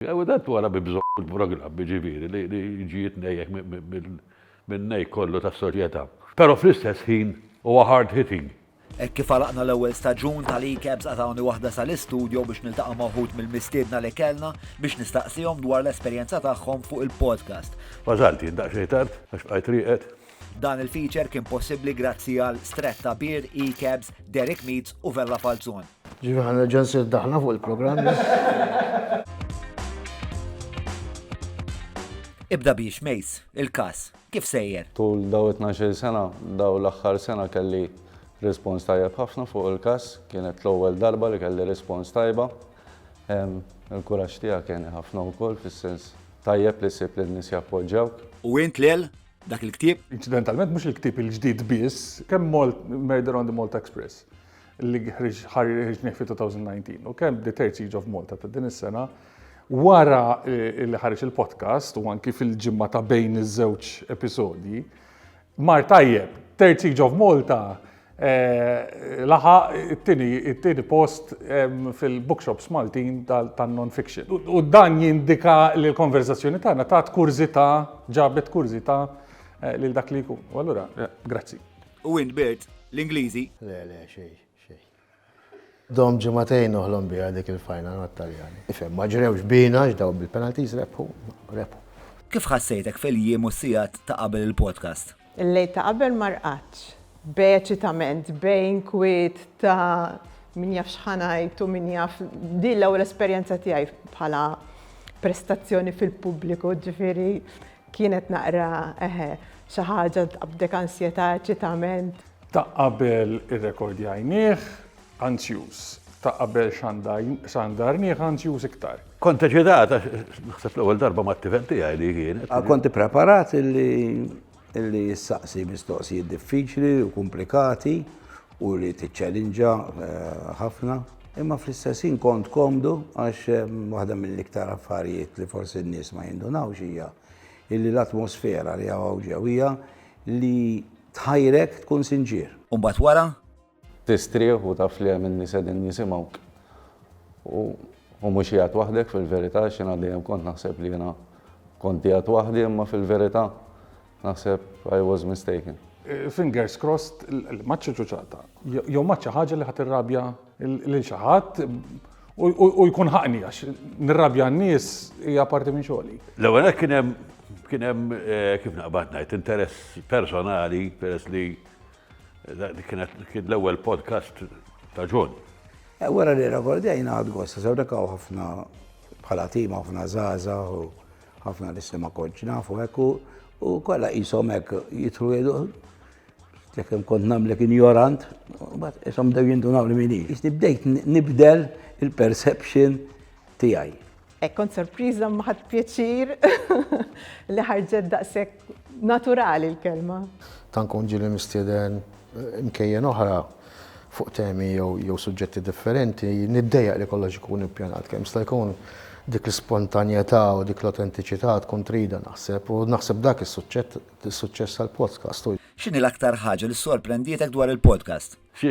U dan twala bi bżonn fil-programm, jiġifieri li jiġi jitnejjek min-nejk kollu tas-soċjetà. Però fl-istess ħin huwa hard hitting. Hekk kif għalaqna l-ewwel staġun tal-eCabs qatgħuni waħda sal-istudio biex niltaqa' ma' wħud mill-mistiedna li kellna biex nistaqsihom dwar l-esperjenza tagħhom fuq il-podcast. Wasalt jien daqsxejn tard għax bqajt rieqed. Dan il-feature kien possibbli grazzi għal Stretta Beer, eCabs, Derek Meats u Vella Falzon. Ġifi ħan nerġa' nsir daħna fuq il-programm. Ibda biex, Mace, il-kas, kif sejjer? Tul daw 12 sena, daw l-axħar sena kelli respons tajjeb ħafna fuq il-kas, kienet l-ewwel darba li kelli respons tajba. Il-kuraġġ tiegħek kien ħafna wkoll fis-sens tajjeb li ssib li n-nies jappoġġawk. U int lel dak il-ktieb? Inċidentalment mhux il-ktieb il-ġdid biss, kemm Murder on the Malta Express. li ħareġ fi 2019 u kemm The Terzi jiġu f'Malta ta' din is-sena, wara eh, li ħareġ il-podcast u anki fil-ġimma ta' bejn iż-żewġ episodji, mar tajjeb, Terzi jiġu f'Malta eh, laħa it-tieni post fil-bookshops Maltin tal-non-fiction. U dan jindika li l-konverzazzjoni tagħna ta' kurzita, ġabet kurzita eh, lil dak li jkun. U allura, grazzi. U int birt l-Ingliżi? Le, le, xejn, xejn. Domt ġimagħtejn noħlom biha dik il-final mat-Taljani. Ifhem, ma ġrewx bina għax dawn bil-penalties rebħu, rebħu. Kif ħassejtek fil-jiem u s-sigħat ta' qabel il-podcast? Il-lejl ta' qabel ma rqadtx. B'eċitament, b'inkwiet ta' min jaf x'ħa ngħid u min jaf, din l-ewwel esperjenza tiegħi bħala prestazzjoni fil-pubbliku, ġifieri Kienet naqra, eħe, xi ħaġa tqabbdek ansjetà, eċitament. Ta' qabel irrekordjajnih, anzjuż. Ta' qabel xandarnih, anzjuż iktar. Kont eċitata, naħseb l-ewwel darba mat-tifel tiegħi li kienet. Kont ippreparat li ssaqsi mistoqsijiet diffiċli u kumplikati u li tiċċalinġa ħafna, imma fl-istess ħin kont komdu għax waħda mill-iktar affarijiet li forsi n-nies ma jindunawx hija illi l-atmosfera li hawn ġew hija li tħajrek tkun sinċier. U mbagħad wara? Tistrieħ u taf li hemm in-nies qegħdin jisimgħuk. U mhux qiegħed waħdek fil-verità għax jiena dejjem kont naħseb li jiena kont qiegħed waħdi imma fil-verità Naħseb I was mistaken. Fingers crossed li m'għadx iċuċata. Jew m'għadx xi ħaġa li ħa tirrabja lil xi ħadd u jkun ħaqni għax nirrabja n-nies hija parti minn xogħli. L-ewwel hekk kien hemm kien hemm eh, kif naqbad ngħid interess personali peress li kienet kien l-ewwel podcast ta' Ġon. Eh, wara li rekordjajna għad gosta, sewrekaw ħafna bħala tima ħafna zaza u Ħafna nisli ma kontx nafu hekk u kollha qishom hekk jidħlu jgħidu jekk hemm kont nagħmlek injorant, mbagħad qishom bdew jindunaw li min hi. Iżdi bdejt nibdel il-perception tiegħi. Hekk kont sorpriża ma ħadd pjaċir li ħarġet daqshekk Naturali l-kelma. Ta' nkun ġieli mistieden imkejjen oħra fuq temi jew suġġetti differenti, niddejjaq li kollox ikun ippjanat kemm jista' jkun. Dik l-ispontanjetà u dik l-autentiċità tkun tridha naħseb u naħseb dak is-suċċess tal-podcast. X'inhi l-aktar ħaġa li ssorprendietek dwar il-podcast? Xi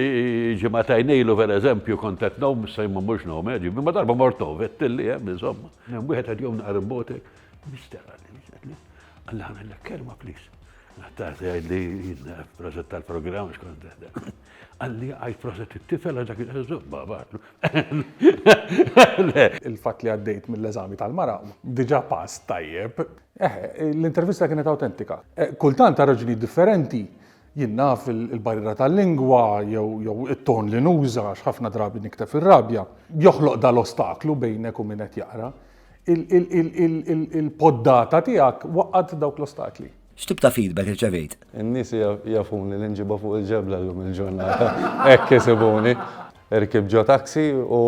ġimagħtajn ilu pereżempju kont qed ngħum, issa jien ma mmurx ngħum, eh, ġifieri, imma darba mort ngħum, għedtilli hemm insomma. Hemm wieħed qed jgħum naqar imbotek, mister għalli, għalli, għalli ħamellek kelma please. Naħtar tgħid li jidna prożett tal-programm xkont teħda. Għalli għajt prożett it-tifel għax dak il-qeżżoq babatlu. Il-fatt li għaddejt mill-eżami tal-mara diġà pass tajjeb. Eh, l-intervista kienet awtentika. Eh, Kultant ta' raġuni differenti Jien naf il-barriera tal-lingwa jew it-ton li nuża għax ħafna drabi nikteb fir-rabja, joħloq dan l-ostaklu bejnek u min qed jaqra. Il-poddata tiegħek waqqgħet dawk l-ostakli. X'tip ta' feedback irċevejt? In-nies jafuni li nġibha fuq il-ġebla llum il-ġurnata. Hekk isibuni. Irkibt ġo taxi u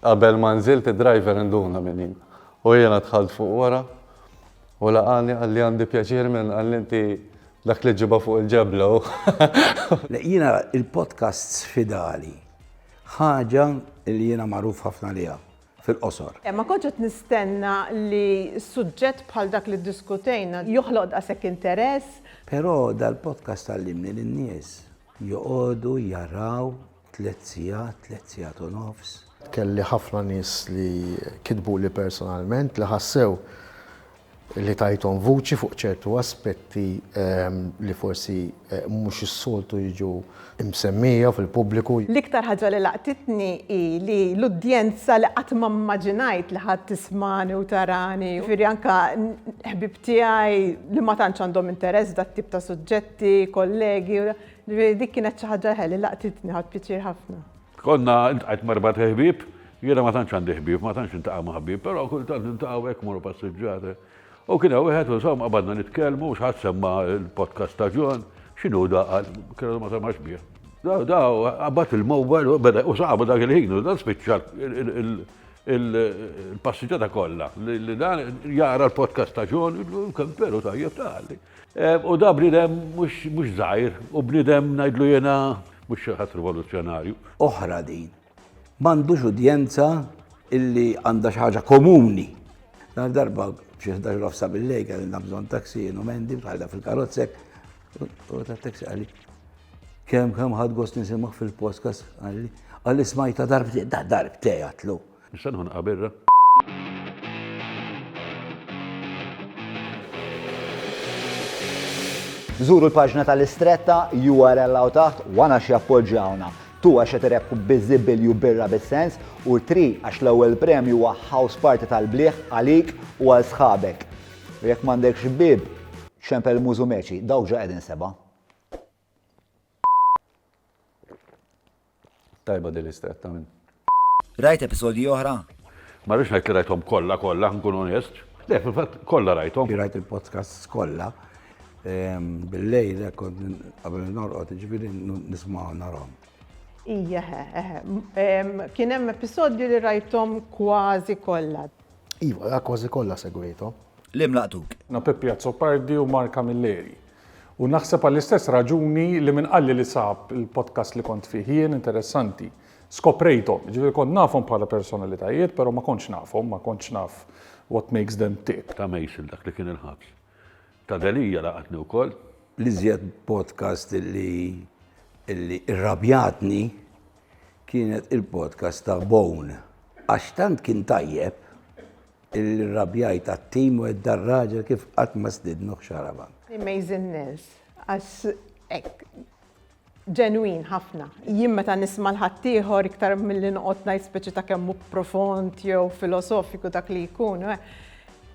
Qabel ma nżilt id-driver induna min hi u jiena dħalt fuq wara u laqagħni qalli għandi pjaċir minn qalli inti dak li ġġibha fuq il-ġebla u. Le jiena il-podcasts fidali ħaġa li jiena magħruf ħafna għaliha fil-qosor. Le ma kontx qed nistenna li suġġett bħal dak li ddiskutejna joħloq daqshekk interess. Però dal-podcast għallimni li n-nies joqogħdu jaraw Tliet sigħat, tliet sigħat u nofs. Kelli ħafna nies li kitbuli personalment li ħassew li tajthom vuċi fuq ċertu aspetti li forsi mhux is-soltu jiġu msemmija fil-pubbliku. L-iktar ħaġa li laqtitni hi li l-udjenza li qatt ma mmaġinajt li ħa tismagħni u tarani, jiġifieri anke ħbieb tiegħi li ma tantx għandhom interess f'dat-tip ta' suġġetti, kollegi, Ġifieri dik kienet xi ħaġa eħe li laqtitni, ħadt pjaċir ħafna. Konna ntqajt m'erba' ħbieb, jiena ma tantx għandi ħbieb, ma tantx intaqa' ma' ħbieb, però kultant niltaqgħu hekk mmorru passiġġata. U kien hawn wieħed u insomma qabadna nitkellmu, xi ħadd semma l-podcast ta' John, x'inhu da qal, kellu ma semax bih. Da da qabad il-mobile u beda u sabu dak il-ħin u dan spiċċa il-passiġġata kollha li dan jara l-podcast ta' John, kemm veru tajjeb tali. U da bniedem mhux żgħir, u bniedem ngħidlu jiena mhux xi ħadd rivoluzzjonarju. Oħra din. M'għandux udjenza illi għandha xi ħaġa komuni. Nhar darba xi ħdax nofsa bil-lej kellna bżonn taksi jienu mendi bħalha fil-karozzek. U ta' taksi għalli. Kemm kemm ħadd gost nisimgħu fil-podcast għalli. Għalli smajta darbtej, da darbtej għatlu. Issa nħonqha birra. Żuru l-paġna tal-Istretta, url hawn taħt, 1 għax jappoġġjawna, 2 għax qed irebbħu biżibilju birra bis-sens u 3 għax l-ewwel premju huwa house party tal-bliħ għalik u għal sħabek. U jekk m'għandekx bieb, ċempel mużu meċi, dawk ġa qegħdin sebgħa. Tajba di lista qed tagħmel. Rajt episodji oħra? Ma rridx ngħid li rajthom kollha kollha nkun onest. Le, fil-fatt kollha rajthom. Rajt il-podcasts kollha ehm, bil-lejl kont qabel norqod, ġifieri nisma' narhom. Ija, kien hemm episodju li rajtom kważi kollha. Iva, kważi kollha segwejthom. Li mlaqtuk. Na Peppi Azzopardi u Marka Milleri. U naħseb għall-istess raġuni li min qalli li sab il-podcast li kont fih jien interessanti. Skoprejthom, jiġifieri kont nafhom bħala personalitajiet, però ma kontx nafhom, ma kontx naf what makes them tick. Ta' Mason dak li kien il-ħabs. Ta' Delia laqatni wkoll. L-iżjed podcast li li irrabjatni kienet il-podcast ta' Bone għax tant kien tajjeb Irrabjajt għat-tim u għedt dar-raġel kif qatt ma stidnuh xarabank. Amazing Nils, għax hekk ġenwin ħafna. Jien meta nisma' 'l ħaddieħor iktar milli noqgħod ngħid speċi ta' kemm hu profond jew filosofiku dak li jkun,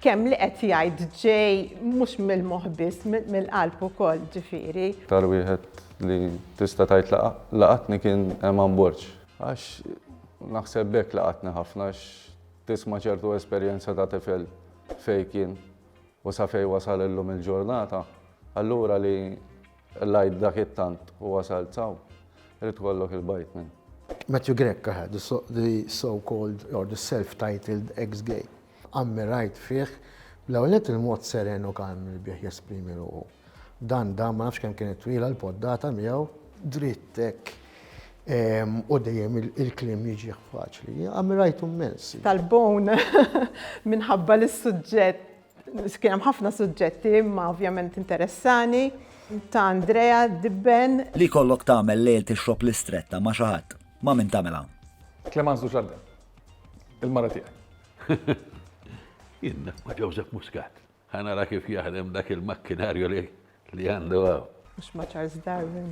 kemm li qed jgħid ġej mhux mill-moħħ biss, mill-qalb ukoll ġifieri. Iktar wieħed li tista' tgħid laqatni kien Eman Borg. Għax naħseb b'hekk laqatni ħafna għax. Tisma' ċertu esperjenza ta' tifel fejn kien u sa fejn wasal illum il-ġurnata, allura li l-għid dak it-tant u wasalt s'hawn, irid ikollok il-bajt minn. Matthew Grech aha, the so-called or the self-titled ex-gay. Ammirajt fih, l-ewwel nett il-mod seren u kalm li bih jesprimi ruħu. Dan dan ma nafx kemm kienet twila l-poddata miegħu. Dritt hekk u dejjem il-kliem jiġih faċli. Ammirajtu mmens. Tal-bone minħabba li s-suġġett kien hemm ħafna suġġetti imma ovvjament interessani ta' Andrea Dibben. Li jkollok tagħmel lejl tixrob l-istretta ma' xi ħadd, ma' min tagħmilha? Clémence Dujardin, il-mara tiegħi. Jien ma' Joseph Muscat. Ħa nara kif jaħdem dak il-makkinarju li għandu hawn. Mhux ma' Charles Darwin.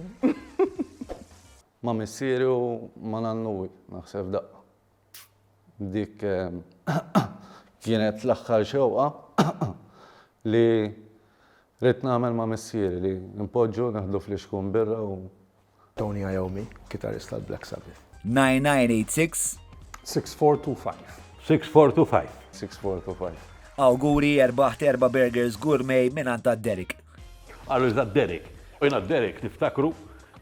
Ma' missieri u ma' nannuwi, naħseb f'daqqa. Dik kienet l-aħħar xewqa li ridt nagħmel ma' missieri li npoġġu neħdu flixkun birra u Tony Iommi, kitarist tal-Black Sabbath. 9986. 6425. 6425. 6425. Awguri erbaħt erba' burgers gourmet mingħand għad-Derek. Qalu li tad-Derek. U jiena d-Derek niftakru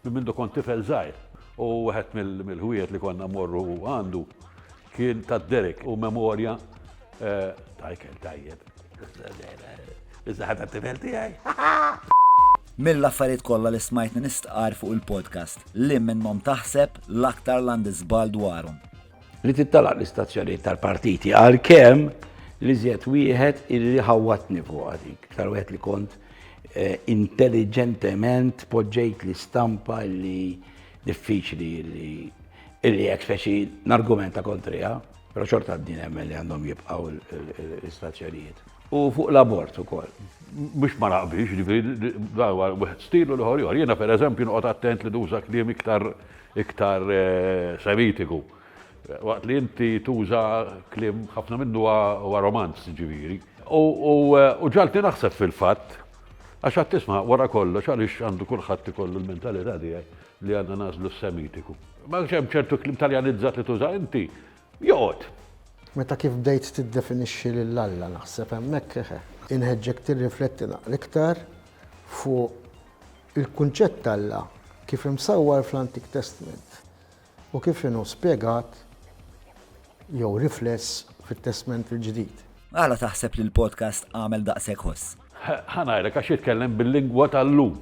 minn mindu kont tifel żgħir. U wieħed mill-ħwiejet li konna mmorru għandu Kien ta' Derek u memorja ta' ikel tajjeb. Iżda ħadha t-tifel tiegħi. Mill-affarijiet kollha li smajtni nistqarr fuq il-podcast, li minnhom taħseb l-aktar li għandi żball dwarhom? Li tittalaq l-istazzjonijiet tal-partiti għalkemm l-iżjed wieħed li ħawwatni fuqha dik. Iktar wieħed li kont intelliġentement poġġejt l-istampa li Diffiċli li illi hekk speċi nargumenta kontriha, però xorta din hemm li għandhom jibqgħu l-istazzjonijiet. U fuq l-abort ukoll. Mhux ma naqbilx, ġifieri dawa wieħed stilu l-ħor jor. Jiena pereżempju noqgħod attent li nuża kliem iktar iktar eh, semitiku. Waqt li inti tuża kliem ħafna minnu huwa romanz ġifieri. U eh, ġalti naħseb fil-fatt Għax għad tisma', wara kollox, għaliex għandu kulħadd ikollu l-mentalità tiegħi li għandna nagħżlu s-Semitiku? Ma għax hemm ċertu kliem Taljanizzat li tuża inti? Joqgħod! Meta kif bdejt tiddefinixxi lil Alla naħseb hemmhekk, eħe. Inħeġġek tirrifletti naqra iktar fuq il-kunċett t'Alla kif imsawwar fl-Antik Testment. u kif inhu spjegat jew rifless fit-Testment il-Ġdid. Għala taħseb li l-podcast għamel daqshekk ħoss? Ħa ngħidlek għax jitkellem bil-lingwa tal-lum.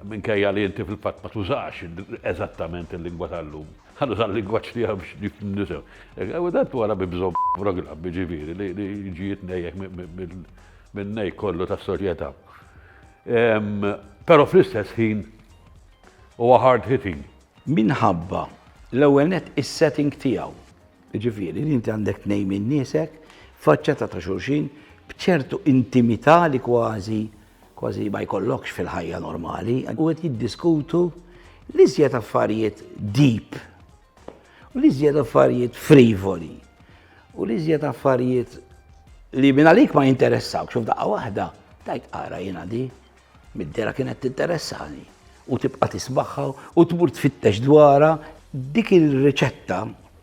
Minkejja li inti fil-fatt ma tużax eżattament il-lingwa tal-lum. Ħa nuża l-lingwaġġ tiegħu biex nisew. U dan wara bi bżomm programm jiġifieri li jiġi jitnejjek min-nej kollu tas-soċjetà. Però fl-istess ħin huwa hard hitting Minħabba, l-ewwel nett, is-setting tiegħu. Jiġifieri li inti għandek tnejn minn niesek faċċata ta' xulxin b'ċertu intimità li kważi kważi ma jkollokx fil-ħajja normali u qed jiddiskutu l-iżjed affarijiet deep u l-iżjed affarijiet frivoli u l-iżjed affarijiet li minn għalik ma jinteressawx u f'daqqa waħda tajt ara jiena di Mid-dehra kienet tinteressani u tibqa' tismagħha u tmur tfittex dwarha. Dik ir-riċetta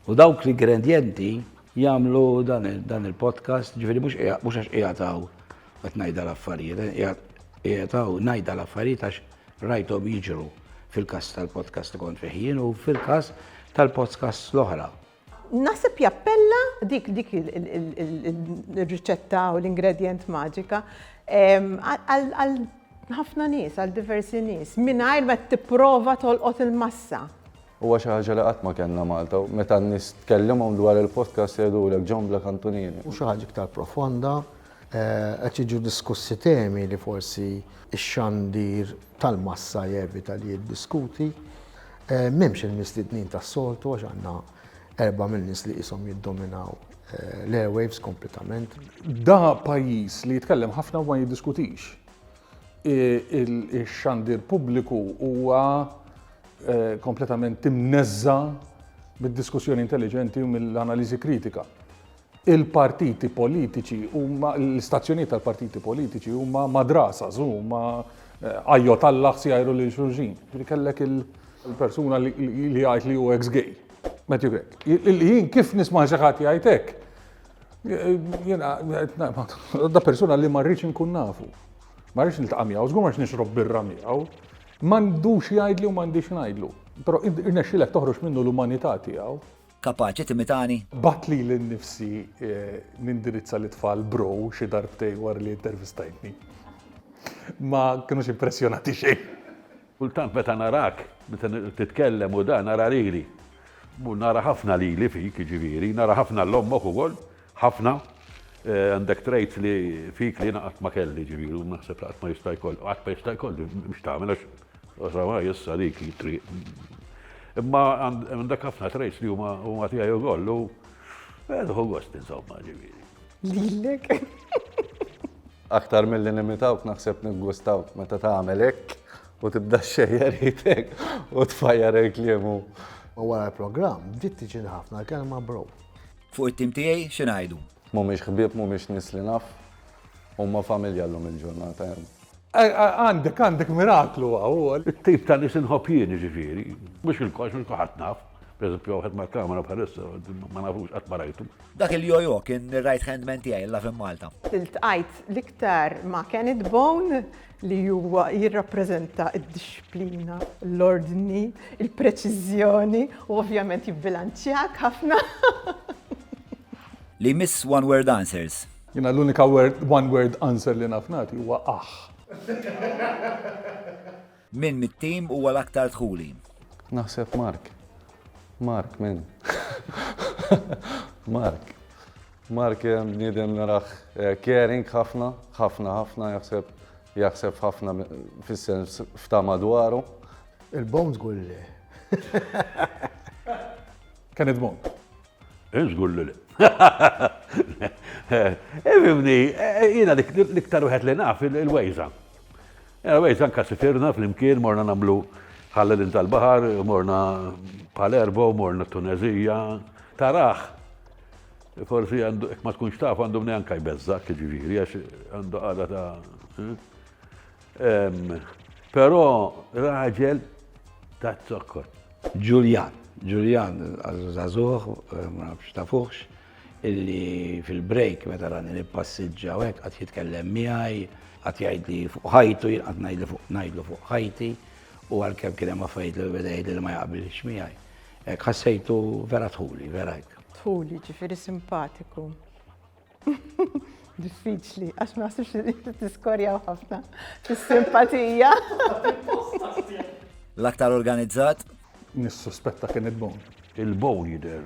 u dawk l-ingredjenti jagħmlu dan il-podcast, ġifieri mhux għax qiegħed hawn qed ngħidha l-affarijiet, qiegħed hawn ngħidha l-affarijiet għax rajthom jiġru fil-każ tal-podcast li kont fih jien u fil-każ tal-podcasts l-oħra. Naħseb jappella dik dik il-riċetta u l-ingredient maġika għal ħafna nies, għal diversi nies, mingħajr ma tipprova tolqot il-massa. Huwa xi ħaġa li qatt ma kellna Malta, meta n-nies tkellimhom dwar il-podcast jgħidulek John Black Antonieri. Xi ħaġa iktar profonda, Qed jiġu diskussi temi li forsi x-xandir tal-massa jevita li jiddiskuti. M'hemmx il-mistednin tas-soltu għax għandna erbgħa mill-nies li qishom jiddominaw l-airwaves kompletament. Da pajjiż li jitkellem ħafna u ma jiddiskutix. Ix-xandir pubbliku huwa kompletament imneżża' mid-diskussjoni intelliġenti u mill-analiżi kritika. Il-partiti politiċi huma, l-istazzjonijiet tal-partiti politiċi huma madrasas, huma ajjot Alla ħsjajru lil xulxin. Ġifieri kellek il-persuna li jgħid li hu ex-gay. Matthew Grech. Jien kif nisma' xi ħadd jgħid hekk, jiena da persuna li ma rridx inkun nafu. Ma rridx niltaqa' miegħu, żgur ma rridx nixrob birra miegħu. M'għandux jgħidli u m'għandix ngħidlu. Però irnexxilek toħroġ minnu l-umanità tiegħu. Kapaċi timitani? Bgħatt lili nnifsi nindirizza lit-tfal bro xi darbtejn wara li intervistajtni. Ma kinux impressjonati xejn. Kultant meta narak, meta titkellem u dan, nara lili. Nara ħafna lili fik, jiġifieri, nara ħafna 'l ommok ukoll. Ħafna, għandek traits li fik li jiena qatt ma kelli ġifieri u naħseb li qatt ma jista' jkolli, qatt ma jista' jkolli biex tagħmel għax oħra issa dik it-triq. Imma għandek ħafna traits li huma huma tiegħi ukoll u ħu gost insomma ġifieri. Lilek. Aktar mill-li nimitawk naħseb niggustawk meta tagħmel hekk u tibda xejjer jitek u tfajjar il-kliemu. U wara l-programm, bdiet tiġi ħafna kelma bro. Fuq it-tim tiegħi xi ngħidu? Mhumiex ħbieb, mhumiex nies li naf. Huma familja llum il-ġurnata. Għandek, għandek miraklu hawn. It-tip ta' nies inħobb jien, jiġifieri. Mhux il-kollx, mhux kulħadd naf. Per eżempju, wieħed mal-kamra bħalissa, ma nafux, qatt ma rajtu. Dak il-jojo kien ir-right hand man tiegħi, il-love in Malta. Iltqajt l-iktar ma' Kenneth Bone. li huwa jirrappreżenta d-dixxiplina, l-ordni, il-preċiżjoni u ovvjament jibbilanċjak ħafna. Li jmiss one word answers. Jiena l-unika one word answer li naf nagħti huwa aħħ. Min mit-tim huwa l-aktar dħuli? Naħseb Mark. Mark, min? Mark. Mark bniedem narah caring ħafna, ħafna ħafna jaħseb jaħseb f'ħafna fis-sens f'ta' madwaru. Il-bone żgur li le. Can it bone? Jien żgur li le. Ifhimni, jiena l-iktar wieħed li naf il-wejża. Il-wejża anke sifirna flimkien morna nagħmlu ħallelin tal-baħar, morna Palermo, morna Tunezija, tarah Forsi għandu, ma tkunx taf għandu mni anka jbezzak, ġiviri, għax għandu għada ta' eh? Pero raġel ta' zokkot. Ġuljan, Ġuljan, għazuzazuħ, eh, ma nafx ta' fuħx, illi fil-break meta rani li passiġġa u għek għat jitkellem miħaj, għat jgħid li fuq ħajtu, għat najdlu fuq najdlu fuq ħajti, u għal-kem kienem għafajt li beda jgħid li ma jgħabil xmiħaj. Hekk ħassejtu vera dħuli, vera hekk. Dħuli, ġifieri simpatiku. Diffiċli, għax ma nasibx li inti tiskorjaw ħafna fis-simpatija. L-aktar organizzat? Nissuspetta kien il-bowl. Il-bowl jidher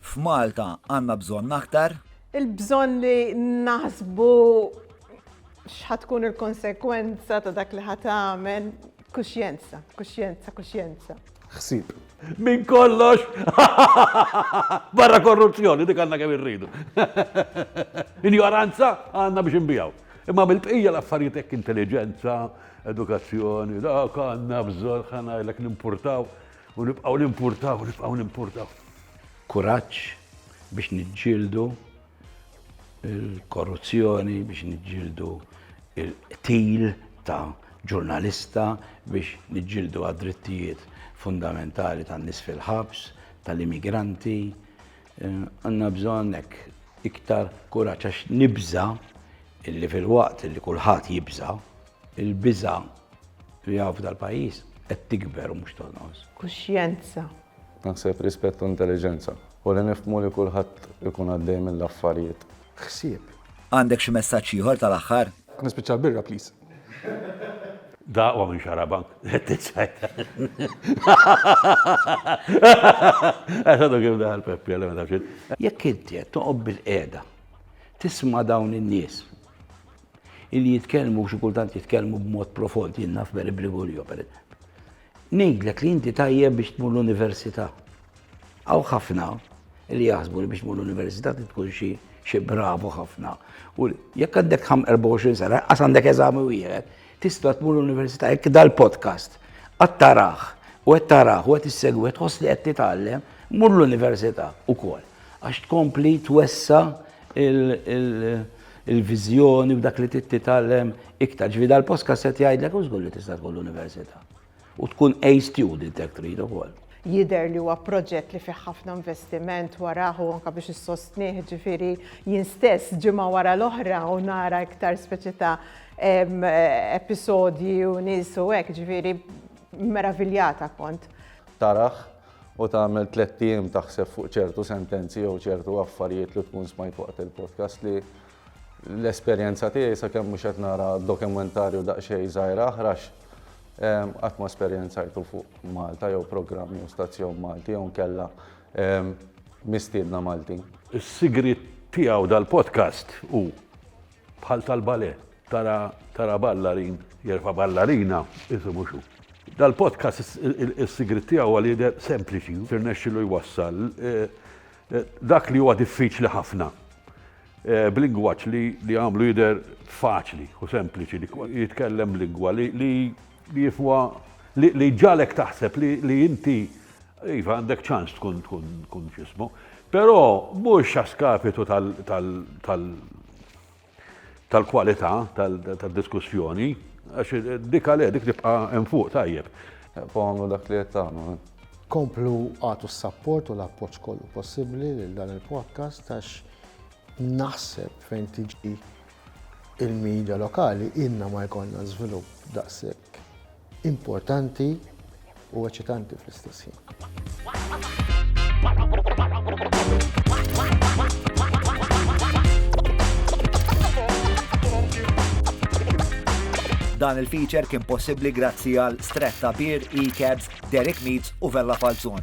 F'Malta għandna bżonn aktar. Il-bżonn li naħsbu x'ħa tkun il-konsekwenza ta' dak li ħa tagħmel. Kuxjenza, kuxjenza, kuxjenza. Ħsieb. Minn kollox! Barra korruzzjoni, dik għandna kemm irridu. Injoranza għandna biex inbijaw. Imma mill-bqija l-affarijiet hekk intelliġenza, edukazzjoni, dak għandna bżonn ħanajlek nimpurtaw. U nibqgħu nimpurtaw, nibqgħu nimpurtaw. Kuraġġ biex niġġieldu il-korruzzjoni, biex niġġieldu il-qtil ta' ġurnalista, biex niġġieldu għad-drittijiet fundamentali tan-nies fil-ħabs, tal-immigranti. Eh, għandna bżonn iktar kuraġġ għax nibża' illi fil-waqt li kulħadd jibża' Il-biża' li hawn f'dal-pajjiż qed tikber u mhux tonqos. Kuxjenza. Naħseb rispett u intelliġenza. U li nifhmu li kulħadd ikun għaddej mill-affarijiet. Ħsieb. Għandek xi messaġġ ieħor tal-aħħar? Nispiċċa l-birra please. Da aqwa minn xarabank. Qed tiċċajt. Għax għadu kif daħal Peppi għalli ma tafx. Jekk inti qed toqgħod bil-qiegħda tisma' dawn in-nies li jitkellmu xi kultant jitkellmu b'mod profond, jien naf Mary Brigulio per Ngħidlek li inti tajjeb biex tmur l-università. Aw ħafna li jaħsbu li biex tmur l-università tkun xi xi bravu ħafna. U jekk għandek 24 sena, qas għandek eżami wieħed, tista' tmur l-università jekk dal-podcast qatt taraħ u qed taraħ u qed issegwi tħoss li qed titgħallem, mur l-università wkoll. Għax tkompli twessa il-viżjoni u dak li titgħallem iktar. Ġifieri dal-post kasset jgħidlek u żgur li tista' tkun l-università. U tkun A student jekk trid ukoll. Jidher li huwa proġett li fih ħafna investiment warajh u anke biex issostnih, ġifieri jien stess ġimgħa wara l-oħra u nara iktar speċi ta' episodji u nies u hekk, ġifieri meraviljata kont. Tarah u tagħmel tlett ijiem taħseb fuq ċertu sentenzi jew ċertu affarijiet li tkun smajt waqt il-podcast li l-esperjenza tiegħi sakemm mhux qed nara dokumentarju daqsxejn żgħira aħrax ehm, qatt ma esperjenzajtu fuq Malta jew programm jew stazzjon Malti jew nkella ehm, mistiedna Maltin. Is-sigriet tiegħu dal-podcast u Bħal tal-balè, tara tara ballarin jerfa' ballarina, isu mhux hu. Dal-podcast is-sigriet tiegħu għal jidher sempliċi, tirnexxilu jwassal dak li huwa diffiċli ħafna b'lingwaġġ li jagħmlu jidher faċli u sempliċi li jitkellem b'lingwa li Li jifwa, li jġagħlek taħseb li inti, iva, għandek ċans tkun tkun tkun x'ismu. Però mhux a skapitu tal tal tal-kwalità tad-diskussjoni, għax dik għalhekk dik tibqa' hemm fuq tajjeb. Komplu dak li qed tagħmlu. Komplu għatu s-sapport u l-appoġġ kollu possibbli lil dan il-podcast għax naħseb fejn tiġi Il-media lokali ilna ma jkollna żvilupp daqshekk importanti u eċitanti fl-istess ħin. Dan il-feature kien possibbli grazzi għal Stretta Beer, E-Cabs, Derek Meads u Vella Falzon.